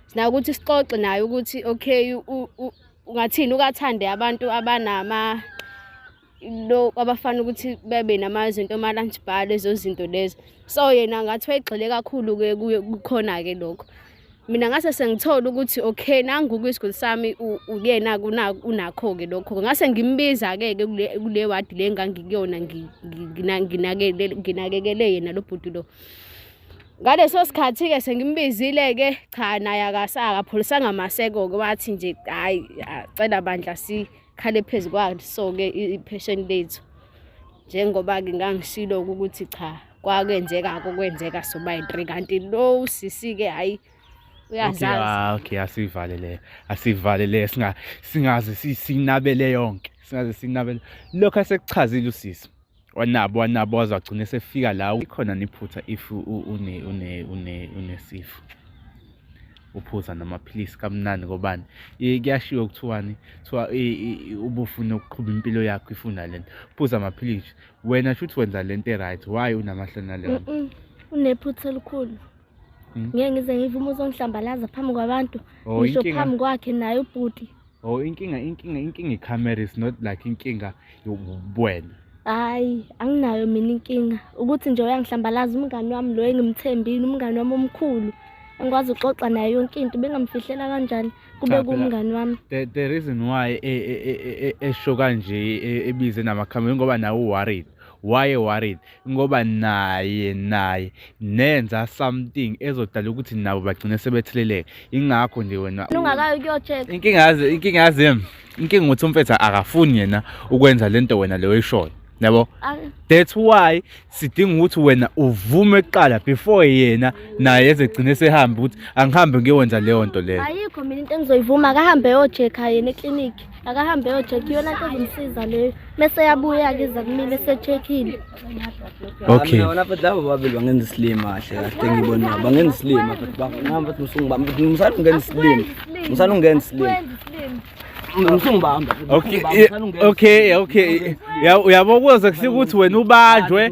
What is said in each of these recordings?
sina ukuthi sixoxe naye ukuthi okay ungathini ukathande abantu abanama lo abafana ukuthi bebe namazinto ama lunch bar lezo zinto lezo so yena ngathi wayigxile kakhulu ke kukhona ke lokho mina ngase sengithola ukuthi okay nangu kwisiguli sami uyena unakho ke lokho ngase ngimbiza ke ke kule wadi le ngangikuyona nginakekele yena lo bhuti lo ngaleso sikhathi-ke sengimbizile-ke cha naye akasakapholisanga maseko-ke wathi nje hhayi acela bandla sikhale phezu kwaso-ke iphesheni lethu njengoba-ke ngangishilo-ke ukuthi cha kwakenzeka-ke okwenzeka sobayi-three kanti lo usisi-ke hhayi uyazazi okay asivale le asivale le singaze sinabele yonke singaze sinabele lokho asekuchazile usisi wanabo wanabo waze wagcina esefika la ikhona niphutha if une une une unesifo uphuza namaphilisi kamnandi ngobani kuyashiwo kuthiwani kuthiwa ubufuna ukuqhuba impilo yakho ifuna lento phuza amaphilisi wena shuthi wenza lento e-right why unamahloni nalento unephutha elikhulu Hmm? ngeke ngize ngivume uzongihlambalaza phambi kwabantu oh, ngisho phambi kwakhe naye ubhuti oh inkinga inkinga inkinga icamera is not like inkinga yobuwena hayi anginayo mina inkinga ukuthi nje uyangihlambalaza umngani wami lo engimthembile umngani wami omkhulu engikwazi uxoxa naye yonke into bengamfihlela kanjani kube kumngani wami the reason why e, e, e, esho kanje ebize namakhamera ngoba nawe uworried why worried ngoba naye naye nenza something ezodala ukuthi nabo bagcine sebetheleleka ingakho nje wena ungakayo kuyocheck inkinga yazi inkinga yazi yem inkinga ukuthi umfetha akafuni yena ukwenza lento wena leyo ishoyo yabo that's why sidinga ukuthi wena uvume kuqala before yena naye ezegcine sehambe ukuthi angihambe ngiyowenza leyo nto leyo ayikho mina into engizoyivuma akahambe yocheck yena eclinic akahambe yocheck iyona nto ezomsiza leyo mese yabuya-ke iza kumile esechekhile okay wona futhi labo babili bangenza isilima kahle kahle ngibona bangenza isilima futhi bangihamba futhi musungibamba musana ungenza isilima musana ungenza isilima musungibamba okay okay okay uyabo kuze kufika ukuthi wena ubanjwe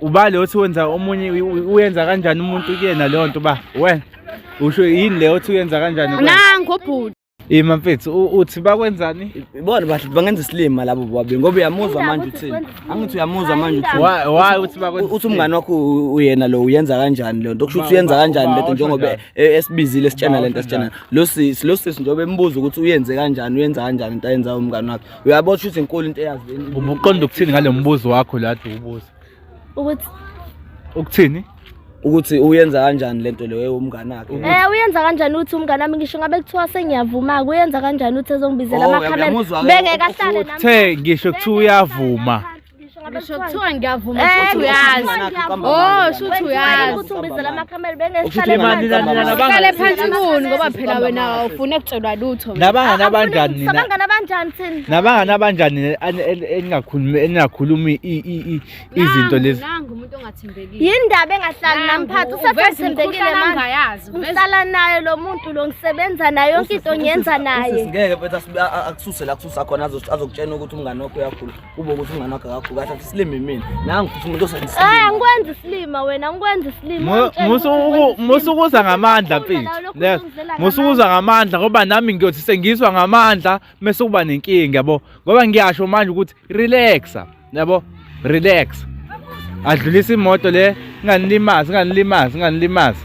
ubale othi wenza omunye uyenza kanjani umuntu kuyena leyo nto uba wena usho yini leyo othi uyenza kanjani nangu obhuti Ima mfethu uthi bakwenzani? Bona bahle bangenza isilima labo bobabili ngoba uyamuzwa manje uthini. Angithi uyamuzwa manje uthini. Why uthi bakwenza? Uthi umngani wakho uyena lo uyenza kanjani lento? Kusho ukuthi uyenza kanjani lento njengoba e- esibizile sitshena lento sitshena. Lo sisi lo sisi njengoba embuza ukuthi uyenze kanjani, uyenza kanjani into ayenza umngani wakhe. uyabo ukuthi izinkulu into eyazi ubuqonda ukuthini ngale mbuzo wakho la dubuza ukuthi ukuthini ukuthi uyenza kanjani lento leyo umngane wakhe eh uyenza kanjani uthi umngane wami ngisho ngabe kuthiwa sengiyavuma ke uyenza kanjani uthi ezongibizela oh, amakhamera bengeke ahlale nami uthe ngisho kuthiwa uyavuma ngisho kuthiwa ngiyavuma Eh, shuthi uyazi ngiyavuma. oh shuthi uyazi ukuthi ungibizela amakhamera bengehlale Imali phansi. nani nani abangani. uhlale phansi kuni ngoba phela wena awufuni kutshelwa lutho wena. Nabangani abanjani nina? Sabangani abanjani thina? Nabangani abanjani nina ani- en- eningakhulumi eningakhulumi i- i- i- izinto Nangu, lezi? nangu umuntu ongathembekile Yindaba engahlali Nangu, namphathi uveza usefathembekile imikhuhlane manje. angayazi, uveza- Ngihlala naye lo muntu lo ngisebenza naye yonke into ngiyenza naye. Ngeke bese akususe la kususa khona azokutshena ukuthi umngane wakho uyakhula. Kuba ukuthi umngane wakhe akaguga athathe isilima imina. Nangu futhi umuntu osenza. Eh angikwenzi isilima wena angikwenzi isilima. Musukuza ngamandla mfethu. Yes. Musukuza ngamandla ngoba nami ngiyothi sengizwa ngamandla mase kuba nenkinga yabo. Ngoba ngiyasho manje ukuthi relaxa. Yabo? Relax. Adlulisa imoto le nganilimazi nganilimazi nganilimazi.